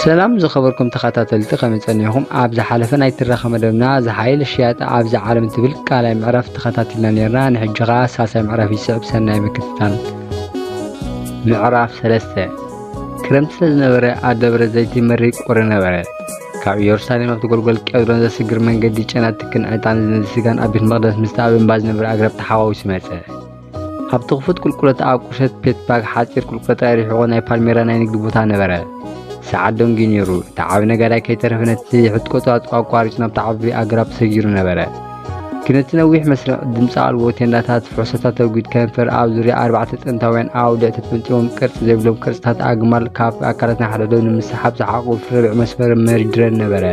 ሰላም ዝኸበርኩም ተኸታተልቲ ከመይ ጸኒሕኩም ኣብ ዝሓለፈ ናይ ትረኻ መደብና ዝሓይል ሽያጥ ኣብዚ ዓለም ትብል ቃላይ ምዕራፍ ተኸታቲልና ነርና ንሕጂ ኸኣ ሳልሳይ ምዕራፍ ይስዕብ ሰናይ ምክትታል ምዕራፍ ሰለስተ ክረምቲ ስለ ዝነበረ ኣብ ደብረ ዘይቲ መሪ ቁሪ ነበረ ካብ ኢየሩሳሌም ኣብቲ ጎልጎል ቄድሮን ዘስግር መንገዲ ጨና ትክን ዕጣን ዝነዚ ስጋን ኣብ ቤት መቕደስ ምስቲ ኣብ እምባ ዝነበረ ኣግራብ ተሓዋዊሱ መጸ ኣብቲ ክፉት ቁልቁለት ኣብ ቁሸት ፔትባግ ሓጺር ቁልቁለት ኣይርሒቑ ናይ ፓልሜራ ናይ ንግዲ ቦታ ነበረ። ሰዓት ደንጊ ነይሩ። እቲ ዓቢ ነጋዳይ ከይተረፈ ነቲ ሕትቆቱ ኣቋሪጹ ናብቲ ዓቢ ኣግራብ ሰጊሩ ነበረ። ግን እቲ ነዊሕ መስርዕ ድምፂ ኣልቦ ቴንዳታት ፍሕሶታት ተጒድ ከንፈር ኣብ ዙርያ ኣርባዕተ ጥንታውያን ኣውድዕ ተጠምጢሞም ቅርጺ ዘይብሎም ቅርጽታት ኣግማል ካብ ኣካላትና ሓደዶ ንምስሓብ ዝሓቁ ፍርብዕ መስመር መሪድረን ነበረ።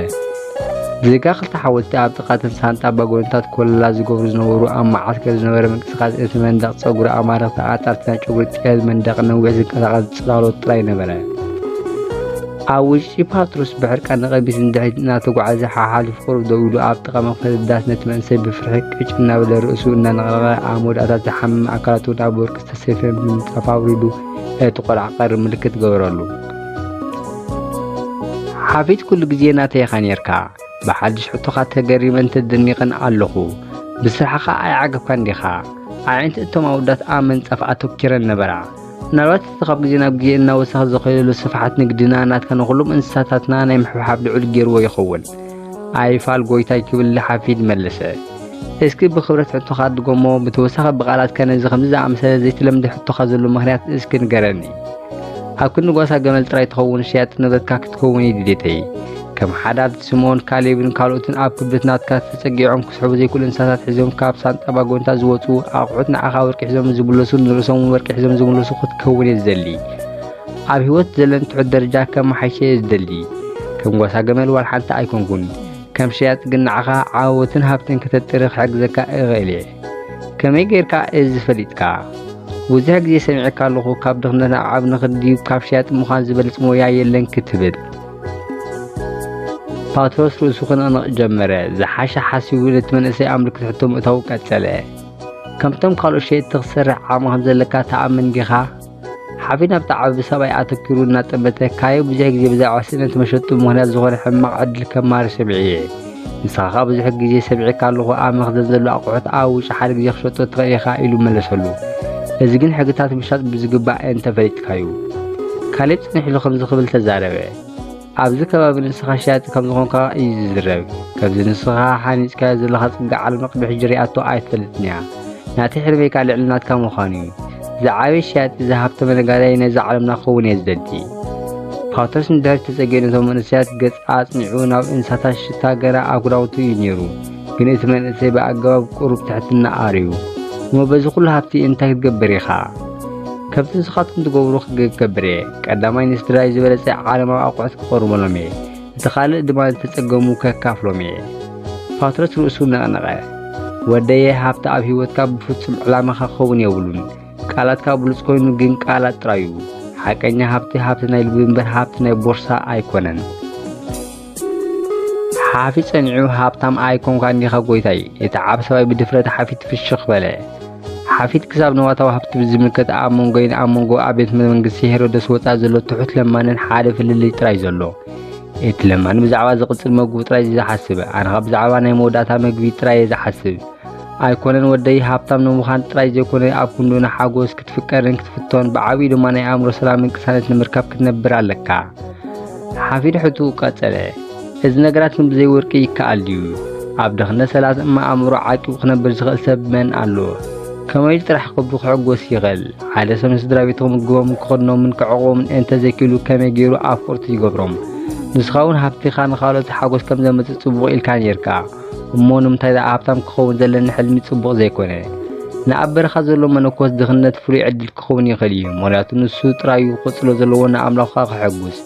ብዘይካ ክልተ ሓወልቲ ኣብ ጥቓ እተን ሳንጣ ኣባጎንታት ኮለላ ዝገብሩ ዝነበሩ ኣብ መዓስከር ዝነበረ ምንቅስቓስ እቲ መንደቕ ጸጉሪ ኣማልኽቲ ኣጣርቲ ናይ ጨጉሪ ጥያዝ መንደቕ ነዊሕ ዝንቀሳቐስ ጽላሎት ጥራይ ነበረ። ኣብ ውሽጢ ፓትሮስ ብሕርቃን ንቐቢስ ንድሕሪት እናተጓዓዘ ሓሓሊፉ ቁሩብ ደው ኢሉ ኣብ ጥቓ መኽፈቲ ዳስ ነቲ መንእሰይ ብፍርሒ ቅጭ እናበለ ርእሱ እናነቕነቐ ኣብ መወዳእታት ዝሓመመ ኣካላቱ ናብ ወርቂ ዝተሰፈየ ምንጻፍ ኣውሪዱ ነቲ ቆልዓ ቀሪ ምልክት ገበረሉ። ሓፊት ኩሉ ግዜ ናተይ ኢኻ ኔርካ ብሓድሽ ሕቶኻ ተገሪመን ተደኒቐን ኣለኹ ብስራሕኻ ኣይዓገብካን ዲኻ ኣዒንቲ እቶም ኣውዳት ኣብ መንጸፍ ኣተኪረን ነበራ ምናልባት እቲ ካብ ግዜ ናብ ግዜ እናወሰኸ ዝኸየሉ ስፍሓት ንግድና ናትካ ንኹሎም እንስሳታትና ናይ ምሕብሓብ ልዑል ገይርዎ ይኸውን ኣይፋል ጎይታይ ክብል ንሓፊዝ መለሰ። እስኪ ብኽብረት ሕቶኻ ድገሞ፣ ብተወሳኺ ብቓላት ከ ነዚ ከምዚ ዝኣመሰለ ዘይተለምደ ሕቶኻ ዘሎ ምኽንያት እስኪ ንገረኒ። ኣብ ክንዲ ጓሳ ገመል ጥራይ ትኸውን ሸያጢ ንብረትካ ክትከውን እዩ ድሌተይ። ከም ሓዳት፣ ስምኦን፣ ካሌብን ካልኦትን ኣብ ክብደት ናትካ ተጸጊዖም ክስሕቡ ዘይክእሉ እንስሳታት ሒዞም ካብ ሳንጣ ባጎንታ ዝወጹ ኣቑሑት ንዓኻ ወርቂ ሒዞም ዝምለሱን ንርእሶም እውን ወርቂ ሒዞም ዝምለሱ ክትከውን እየ ዝደሊ። ኣብ ህይወት ዘለን ትሑት ደረጃ ከመሓይሸ እየ ዝደሊ ከም ጓሳ ገመል ዋላ ሓንቲ ኣይኮንኩን ከም ሸያጥ ግን ንዓኻ ዓወትን ሃብትን ከተጥሪ ክሕግዘካ እኽእል እየ ከመይ ጌርካ እዚ ፈሊጥካ ብዙሕ ግዜ ሰሚዐካ ኣለኹ ካብ ድኽነት ናብ ዓብ ንኽዲ ካብ ሸያጥ ምዃን ዝበልፅ ሞያ የለን ክትብል ፓትሮስ ርእሱ ክንቕንቕ ጀመረ ዝሓሸ ሓሲቡ ነቲ መንእሰይ ኣምልክ ትሕቶ ምእታው ቀጸለ ከምቶም ካልኦት ሸየጥቲ ክትሰርሕ ዓቕሚ ከም ዘለካ ተኣምን ዲኻ ሓፊ ናብቲ ዓቢ ሰብኣይ ኣተኪሩ እናጠመተ ካዮ ብዙሕ ግዜ ብዛዕባ ስእነት መሸጡ ምክንያት ዝኾነ ሕማቕ ዕድል ከማሪ ሰሚዐ እየ። ንስኻ ከኣ ብዙሕ ግዜ ሰሚዐካ ኣለኹ ኣብ መኽዘን ዘሎ ኣቑሑት ኣብ ውሽጢ ሓደ ግዜ ክሸጦ ትኽእል ኢኻ ኢሉ መለሰሉ። እዚ ግን ሕግታት ምሻጥ ብዝግባእ እንተፈሊጥካዩ። ካሌብ ጽንሕ ኢሉ ከምዚ ክብል ተዛረበ። ኣብዚ ከባቢ ንስኻ ሸያጢ ከም ዝኾንካ እዩ ዝዝረብ። ከምዚ ንስኻ ሓኒጽካዮ ዘለኻ ጽጋ ዓለም ቅድሚ ሕጂ ሪኣቶ ኣይትፈልጥን እያ። ናተይ ሕልመይካ ልዕሊ ናትካ ምዃን እዩ። ዝዓበየ ሸያጢ ዝሃብተመ ነጋዳይ ናይዛ ዓለምና ክኸውን እየ ዝደሊ። ፓውተርስ ንድሕሪት ተጸጊዑ ነቶም መንእሰያት ገጽ ኣጽኒዑ ናብ እንሳታት ሽታ ገና ኣብ ክዳውንቱ እዩ ነይሩ። ግን እቲ መንእሰይ ብኣገባብ ቁሩብ ትሕትና ኣርዩ እሞ በዚ ኩሉ ሃብቲ እንታይ ክትገብር ኢኻ ከምቲ ንስኻትኩም ትገብሩ ክገብር እየ ቀዳማይ ንስድራይ ዝበለጸ ዓለማዊ ኣቑሑት ክቐርበሎም እየ እቲ ካልእ ድማ ዝተጸገሙ ከካፍሎም እየ ፓትሮስ ርእሱ ነቕነቐ ወደየ ሃብቲ ኣብ ህይወትካ ብፍጹም ዕላማኻ ክኸውን የብሉን ቃላትካ ብሉጽ ኮይኑ ግን ቃላት ጥራዩ ሓቀኛ ሃብቲ ሃብቲ ናይ ልቢ እምበር ሃብቲ ናይ ቦርሳ ኣይኮነን ሓፊ ጸኒዑ ሃብታም ኣይኮንካን ዲኻ ጎይታይ? እቲ ዓቢ ሰብኣይ ብድፍረት ሓፊት ፍሽኽ በለ። ሓፊት ክሳብ ንዋታዊ ሃብቲ ብዝምልከት ኣብ መንጎይን ኣብ መንጎ ኣብ ቤት መንግስቲ ሄሮደስ ወጻኢ ዘሎ ትሑት ለማንን ሓደ ፍልልይ ጥራይ ዘሎ። እቲ ለማኒ ብዛዕባ ዝቕጽል መግቡ ጥራይ ዝሓስብ፣ ኣነኻ ብዛዕባ ናይ መወዳእታ መግቢ ጥራይ እየ ዝሓስብ። ኣይኮነን ወደይ፣ ሃብታም ንምዃን ጥራይ ዘይኮነ ኣብ ክንዱ ንሓጎስ ክትፍቀርን ክትፍቶን፣ ብዓቢኡ ድማ ናይ ኣእምሮ ሰላምን ቅሳነት ንምርካብ ክትነብር ኣለካ። ሓፊድ ሕቱ ቀጸለ። እዚ ነገራት ግን ብዘይ ወርቂ ይከኣል ድዩ? ኣብ ድኽነት ሰላት እማ ኣእምሮ ዓቂቡ ክነብር ዝኽእል ሰብ መን ኣሎ? ከመይ ኢሉ ጥራሕ ከብዱ ክሕጎስ ይኽእል? ሓደ ሰብ ንስድራ ቤቱ ክምግቦምን ክኽድኖምን ከዕቑቦምን እንተ ዘይክኢሉ ከመይ ገይሩ ኣፍቀርቱ ይገብሮም? ንስኻ እውን ሃብትኻ ንኻልኦት ሓጎስ ከም ዘምጽእ ጽቡቕ ኢልካ ኔርካ። እሞ ንምንታይ ደኣ ሃብታም ክኸውን ዘለኒ ሕልሚ ጽቡቕ ዘይኮነ? ንኣብ በረኻ ዘሎ መነኮስ ድኽነት ፍሉይ ዕድል ክኸውን ይኽእል እዩ፣ ምኽንያቱ ንሱ ጥራዩ ክቕጽሎ ዘለዎ ንኣምላኹ ከኣ ከሐጉስ።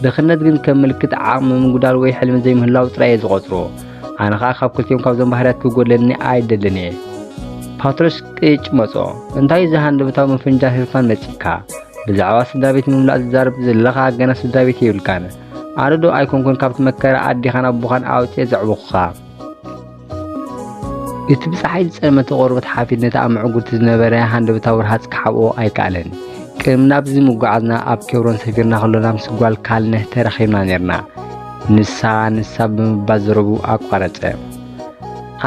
ድኽነት ግን ከም ምልክት ዓቕሚ ምጉዳል ወይ ሕልሚ ዘይምህላው ጥራይ እየ ዝቖጽሮ። ኣነ ከኣ ካብ ክልቲኦም ካብዞም ባህርያት ክጎድለኒ ኣይደልን እየ። ፓትሮስ ቅጭ መጾ። እንታይ እዚ ሃንደበታዊ ምፍንጃር ህርፋን መጺካ? ብዛዕባ ስድራ ቤት ምምላእ ዝዛረብ ዘለኻ ገና ስድራ ቤት የብልካን። ኣነ ዶ ኣይኮንኩን ካብቲ መከራ ኣዴኻን ኣቦኻን ኣውፅኤ ዘዕበኹኻ እቲ ብፀሓይ ዝፀልመተ ቆርበት ሓፊድ ነቲ ኣብ ምዕጉርቲ ዝነበረ ሃንደበታዊ ርሃፅ ክሓብኦ ኣይከኣለን ቅድሚ ናብዚ ምጓዓዝና ኣብ ኬብሮን ሰፊርና ከሎና ምስ ጓል ካልነህ ተራኺብና ነርና ንሳ ንሳ ብምባል ዘረቡ ኣቋረፀ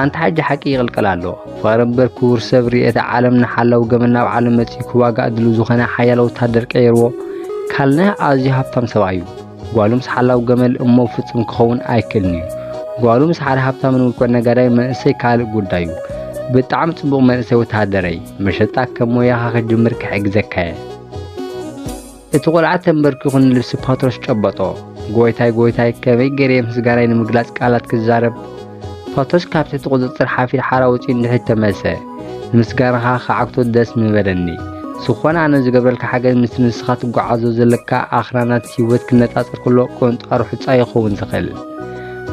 ኣንታ ሓጂ ሓቂ ይቕልቀል ኣሎ ፍቕሪ እምበር ክቡር ሰብ ርየተ ዓለም ንሓላው ገመና ኣብ ዓለም መጺኡ ክዋጋእ ድሉ ዝኾነ ሓያለ ወታደር ቀይርዎ ካልነህ ኣዝዩ ሃብታም ሰብኣይ እዩ ጓሉ ምስ ሓላው ገመል እሞ ፍጹም ክኸውን ኣይክእልን እዩ ጓሉ ምስ ሓደ ሃብታምን ውልቀ ነጋዳይ መንእሰይ ካልእ ጉዳይ እዩ ብጣዕሚ ጽቡቕ መንእሰይ ወተሃደረይ መሸጣ ከም ሞያኻ ክጅምር ክሕግዘካ እየ እቲ ቆልዓ ተንበርኪኹ ንልብሲ ፓትሮስ ጨበጦ። ጎይታይ ጎይታይ ከመይ ገሬ ምስጋናይ ንምግላጽ ቃላት ክዛረብ። ፓትሮስ ካብ ትሕቲ ቁጽጽር ሓፊር ሓራ ወጺኡ ንድሕሪት ተመልሰ። ንምስጋናኻ ክዓግቶ ደስ ምበለኒ። ዝኾነ ኣነ ዝገብረልካ ሓገዝ ምስቲ ንስኻ ትጓዓዞ ዘለካ ኣኽራናት ህይወት ክነጻጸር ከሎ ቆንጣሩ ሑጻ ይኸውን ዝኽእል።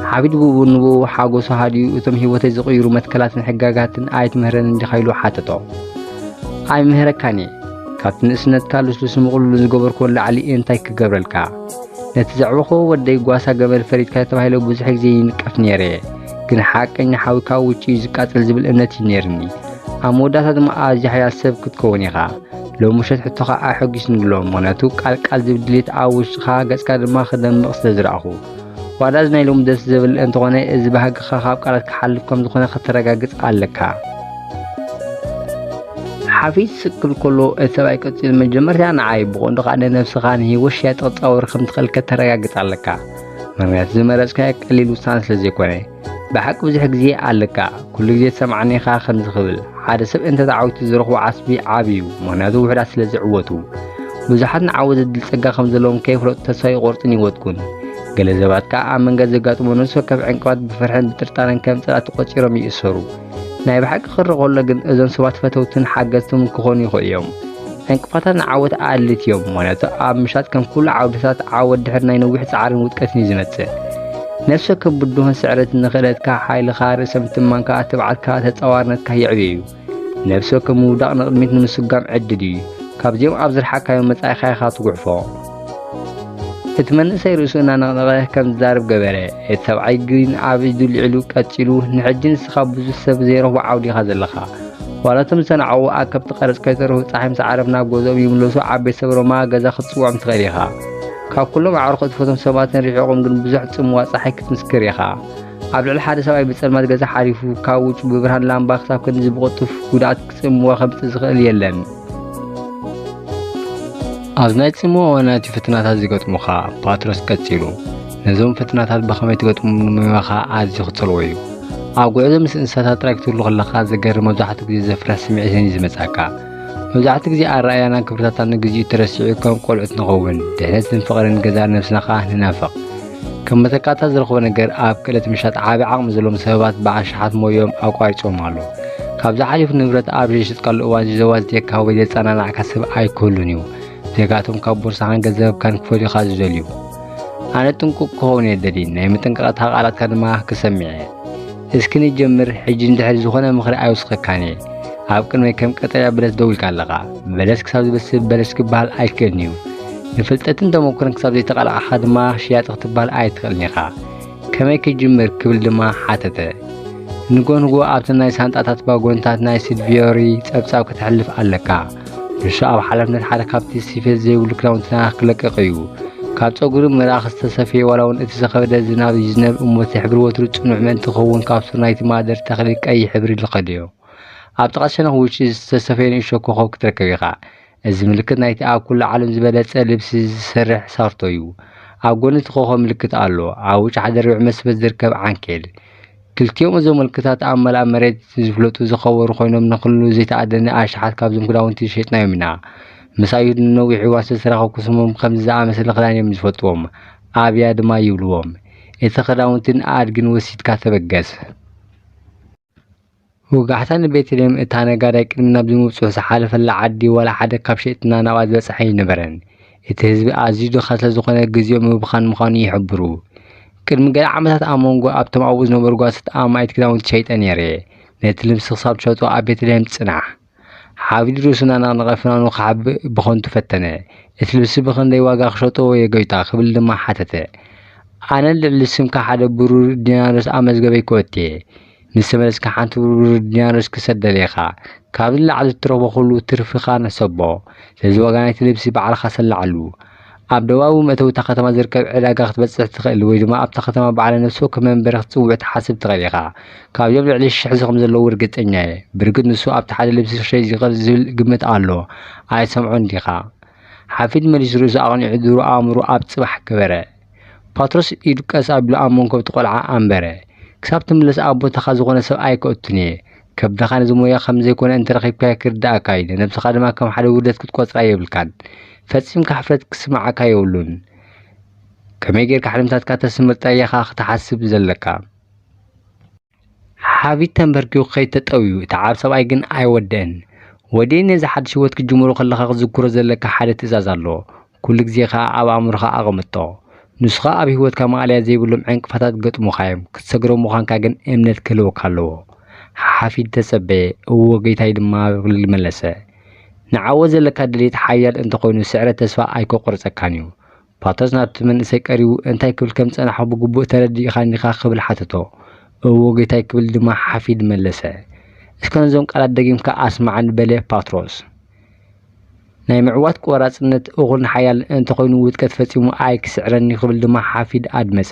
ሓቢድ ብኡ ንብኡ ሓጎሱ ሃዲኡ እቶም ህይወተይ ዝቕይሩ መትከላትን ሕጋጋትን ኣይትምህረንን ዲኻ ኢሉ ሓተቶ። ኣይምህረካን እየ። ካብቲ ንእስነትካ ልስሉስ ምቕሉሉ ዝገበርክዎ ላዕሊ እየ እንታይ ክገብረልካ ነቲ ዘዕበኽዎ ወደይ ጓሳ ገመል ፈሪድካ ተባሂለ ብዙሕ ግዜ ይንቀፍ ነይረ እየ ግን ሓቀኛ ሓዊ ካብ ውጭ እዩ ዝቃጸል ዝብል እምነት እዩ ነይርኒ ኣብ መወዳእታ ድማ ኣዝዩ ሓያል ሰብ ክትከውን ኢኻ ሎሚ ውሸት ሕቶኻ ኣሐጒስኒ ኣሎ ምክንያቱ ቃል ቃል ዝብል ድሌት ኣብ ውሽጥኻ ገጽካ ድማ ክደምቕ ስለ ዝረኣኹ ዋላ እዚ ናይ ሎሚ ደስ ዝብል እንተኾነ እዚ ባህግኻ ካብ ቃላት ክሓልፍ ከም ዝኾነ ከተረጋግጽ ኣለካ። ሓፊዝ ስክል ከሎ እቲ ሰብኣይ ቀፂሉ መጀመርታ ንዓይ ብቐንዱ ከዓ ንነብስኻ ንሂወት ሸያጥ ክፃወር ከም ትኽእል ከተረጋግፅ ኣለካ ምክንያቱ ዝመረፅካዮ ቀሊል ውሳነ ስለ ዘይኮነ ብሓቂ ብዙሕ ግዜ ኣለካ ኩሉ ግዜ ትሰምዓኒ ኢኻ ከምዚ ክብል ሓደ ሰብ እንተ ተዓዊቱ ዝረኽቦ ዓስቢ ዓብ እዩ ምክንያቱ ውሕዳት ስለ ዝዕወቱ ብዙሓት ንዓወ ዘድል ጸጋ ከም ዘለዎም ከይፍለጡ ተስፋ ይቆርጽን ይወድቁን ገለ ሰባት ከኣ ኣብ መንገድ ዘጋጥሙ ነፍሲ ወከፍ ዕንቅፋት ብፍርሕን ብጥርጣረን ከም ጸላእቲ ቆጺሮም ይእሰሩ ናይ ብሓቂ ክሪ ከሎ ግን እዞም ሰባት ፈተውትን ሓገዝትን ክኾኑ ይኽእሉ እዮም። ዕንቅፋታት ንዓወት ኣድሊት እዮም። ምክንያቱ ኣብ ምሻጥ ከም ኩሉ ዓውድታት ዓወት ድሕሪ ናይ ነዊሕ ጻዕርን ውድቀትን እዩ ዝመጽእ። ነፍሲ ወከፍ ብድሆን ስዕረትን ንኽእለትካ፣ ሓይልኻ፣ ርእሰ ምትማንካ፣ ትብዓትካ፣ ተጻዋርነትካ የዕብዮ እዩ። ነፍሲ ወከፍ ምውዳቕ ንቕድሚት ንምስጓም ዕድል እዩ። ካብዚኦም ኣብ ዝርሓካዮ መጻኢኻ ኢኻ ትጉዕፎ። እቲ መንእሰይ ርእሱ እናነቕነቐ ከም ዝዛረብ ገበረ። እቲ ሰብዓይ ግን ኣብ ኢዱ ልዒሉ ቀጺሉ፣ ንሕጂ ንስኻ ብዙሕ ሰብ ዘይረኽቦ ዓውዲ ኢኻ ዘለኻ። ዋላ እቶም ዝሰናዕዉ ኣከብቲ ቀረጽ ከይተረፉ ጸሓይ ምስ ዓረብ ናብ ገዝኦም ይምለሱ፣ ዓብ ቤተሰብ ሮማ ገዛ ክትጽውዖም ትኽእል ኢኻ። ካብ ኩሎም ኣዕሩኽ እትፈትዎም ሰባትን ርሒቖም ግን ብዙሕ ጽምዋ ጸሓይ ክትምስክር ኢኻ። ኣብ ልዕሊ ሓደ ሰብኣይ ብጸልማት ገዛ ሓሊፉ፣ ካብ ውጩ ብብርሃን ላምባ ክሳብ ክንድዚ ብቕልጡፍ ጉድኣት ጽምዋ ከምጽእ ዝኽእል የለን። ኣብ ናይ ጽምኦ እዋናት እዩ ፍትናታት ዝገጥሙኻ ፓትሮስ ቀጺሉ ነዞም ፍትናታት ብኸመይ ትገጥሙ ንምባኻ ኣዝዩ ክጸልዎ እዩ ኣብ ጉዕዞ ምስ እንስሳታት ጥራይ ክትህሉ ከለኻ ዘገርም መብዛሕትኡ ግዜ ዘፍርሕ ስምዒትን እዩ ዝመጻካ መብዛሕትኡ ግዜ ኣረኣያና ክብርታትና ንግዚኡ ተረሲዑ ከም ቆልዑት ንኸውን ድሕነትን ፍቕርን ገዛ ነብስና ከኣ ንናፍቕ ከም መተካእታ ዝረኽቦ ነገር ኣብ ክእለት ምሻጥ ዓቢ ዓቕሚ ዘለዎም ሰበባት ብኣሽሓት ሞዮም ኣቋሪጾም ኣለዉ። ካብዚ ሓሊፉ ንብረት ኣብ ዘይሸጥካሉ እዋን ዘዋዝትየካ ወይ ዘጸናናዕካ ሰብ ኣይክህሉን እዩ። ዜጋቶም ካብ ቦርሳኻን ገንዘብካን ክፈልዩኻ ዝደልዩ። ኣነ ጥንቁቕ ክኸውን እየ ደሊ፣ ናይ መጠንቀቕታ ቃላትካ ድማ ክሰምዕ እየ። እስኪ ንጀምር ሕጂ እንድሕር ዝኾነ ምኽሪ ኣይውስኸካን እየ ኣብ ቅድመይ ከም ቀጠልያ በለስ ደው ኢልካ ኣለኻ በለስ ክሳብ ዝበስል በለስ ክበሃል ኣይክእልን እዩ ንፍልጠትን ተመኩርን ክሳብ ዘይተቓላዕኻ ድማ ሽያጢ ክትበሃል ኣይትኽእልን ኢኻ ከመይ ክጅምር ክብል ድማ ሓተተ ንጎንጎ ኣብቲ ናይ ሳንጣታት ባጎንታት ናይ ስድቪዮሪ ጸብጻብ ክትሕልፍ ኣለካ ርሾ ኣብ ሓላፍነት ሓደ ካብቲ ስፌት ዘይብሉ ክዳውንትና ክለቅቕ እዩ ካብ ፀጉሪ ምራኽ ዝተሰፈየ ዋላ እውን እቲ ዝኸበደ ዝናብ ይዝነብ እሞ እቲ ሕብሪ ወትሩ ፅኑዕ ምእንቲ ክኸውን ካብ ሱር ናይቲ ማህደር ተኽሊ ቀይሕ ሕብሪ ዝኸደዮ ኣብ ጥቓ ሸነኽ ውጭ ዝተሰፈየ ንእሾ ኮኸብ ክትረከብ ኢኻ እዚ ምልክት ናይቲ ኣብ ኩሉ ዓለም ዝበለፀ ልብሲ ዝሰርሕ ሳርቶ እዩ ኣብ ጎኒ እቲ ኮኸብ ምልክት ኣሎ ኣብ ውጭ ሓደ ርብዒ መስበት ዝርከብ ዓንኬል ክልቲኦም እዞም ምልክታት ኣብ መላእ መሬት ዝፍለጡ ዝኸበሩ ኮይኖም ንኹሉ ዘይተኣደነ ኣሽሓት ካብዞም ክዳውንቲ ዝሸጥናዮም ኢና። ምስ ኣይሁድ ንነዊሕ እዋን ስለ ዝተራኸብኩ ስሞም ከምዚ ዝኣመሰለ ክዳን እዮም ዝፈልጥዎም፣ ኣብያ ድማ ይብልዎም። እቲ ክዳውንትን ኣድግን ወሲድካ ተበገስ። ወጋሕታ፣ ንቤተልሔም እታ ነጋዳይ ቅድሚ ናብዚ ምብጽሑ ዝሓለፈላ ዓዲ ዋላ ሓደ ካብ ሸየጥትና ናብኣ ዝበጽሐ ኣይነበረን። እቲ ህዝቢ ኣዝዩ ድኻ ስለ ዝዀነ ግዜኡ ምብኻን ምዃኑ ይሕብሩ። ቅድሚ ገለ ዓመታት ኣብ መንጎ ኣብቶም ኣብኡ ዝነበሩ ጓሶት ኣማኢት ክዳውንቲ ሸይጠ ነይረ። ነቲ ልብሲ ክሳብ ትሸጦ ኣብ ቤተልሔም ጽናሕ። ሓብዲሩ ስናን ኣቕንቐ ፍናኑ ክሓብእ ብኸንቱ ፈተነ። እቲ ልብሲ ብኽንደይ ዋጋ ክሸጦ እየ ጎይታ? ክብል ድማ ሓተተ። ኣነ ልዕሊ ስምካ ሓደ ብሩር ዲናርስ ኣብ መዝገበይ ክወትየ፣ ምስ ተመለስካ ሓንቲ ብሩር ዲናርስ ክሰደልየኻ፣ ካብዚ ንላዕሊ እትረኽቦ ኹሉ ትርፍኻ ንሰቦ፣ ስለዚ ዋጋ ናይቲ ልብሲ ባዕልኻ ሰላዓሉ። ኣብ ደቡባዊ መእተዊ እታ ከተማ ዝርከብ ዕዳጋ ክትበጽሕ ትኽእል ወይ ድማ ኣብታ ከተማ በዓለ ነፍሲ ወከፍ መንበሪ ክትጽውዕ ትሓስብ ትኽእል ኢኻ። ካብዚኦም ልዕሊ ሽሕ እዚ ከም ዘለዉ ርግጸኛ እየ። ብርግጽ ንሱ ኣብቲ ሓደ ልብሲ ክሸይጥ ይኽእል ዝብል ግምት ኣሎ። ኣይትሰምዖን ዲኻ? ሓፊድ መሊሱ ርእሱ ኣቕኒዑ ድሩእ ኣእምሮኡ ኣብ ጽባሕ ገበረ። ፓትሮስ ኢዱ ቀስ ኣቢሉ ኣብ መንኮብ'ቲ ቆልዓ ኣንበረ። ክሳብ ትምለስ ኣብ ቦታኻ ዝኾነ ሰብ ኣይከእቱን እየ። ከብድኻ ነዚ ሞያ ከም ዘይኮነ እንተረኺብካዮ ክርድኣካ እዩ ነብስኻ ድማ ከም ሓደ ውርደት ክትቆጽራ የብልካን ፈጺምካ ሕፍረት ክስምዓካ የብሉን ከመይ ጌርካ ሕልምታትካ ተስምር ጠያኻ ክትሓስብ ዘለካ ሓቢት ተንበርኪኹ ከይተጠውዩ እቲ ዓብ ሰብኣይ ግን ኣይወደን ወዴ ነዚ ሓድሽ ህይወት ክትጅምሮ ከለኻ ክትዝክሮ ዘለካ ሓደ ትእዛዝ ኣሎ ኩሉ ግዜ ከኣ ኣብ ኣእምሮኻ ኣቐምጦ። ንሱኻ ኣብ ህይወትካ ማእለያ ዘይብሎም ዕንቅፋታት ክገጥሙኻ እዮም፣ ክትሰግሮም ምዃንካ ግን እምነት ክህልወካ ኣለዎ። ሓሓፊ ተጸበየ፣ እወ ጌታይ ድማ ብብል መለሰ። ንዓወት ዘለካ ድሌት ሓያል እንተ ኾይኑ ስዕረት ተስፋ ኣይከቁርጸካን እዩ። ፓቶስ ናብቲ መንእሰይ ቀሪቡ እንታይ ክብል ከም ዝጸናሕኩ ብግቡእ ተረዲእኻኒ ዲኻ ክብል ሓተቶ። እወ ጌታይ ክብል ድማ ሓፊድ መለሰ። እስከ ነዞም ቃላት ደጊምካ ኣስማዓኒ በለ ፓትሮስ። ናይ ምዕዋት ቆራፅነት እኹልን ሓያልን እንተኾይኑ ውድቀት ፈፂሙ ኣይክስዕረን እዩ ክብል ድማ ሓፊድ ኣድመፀ።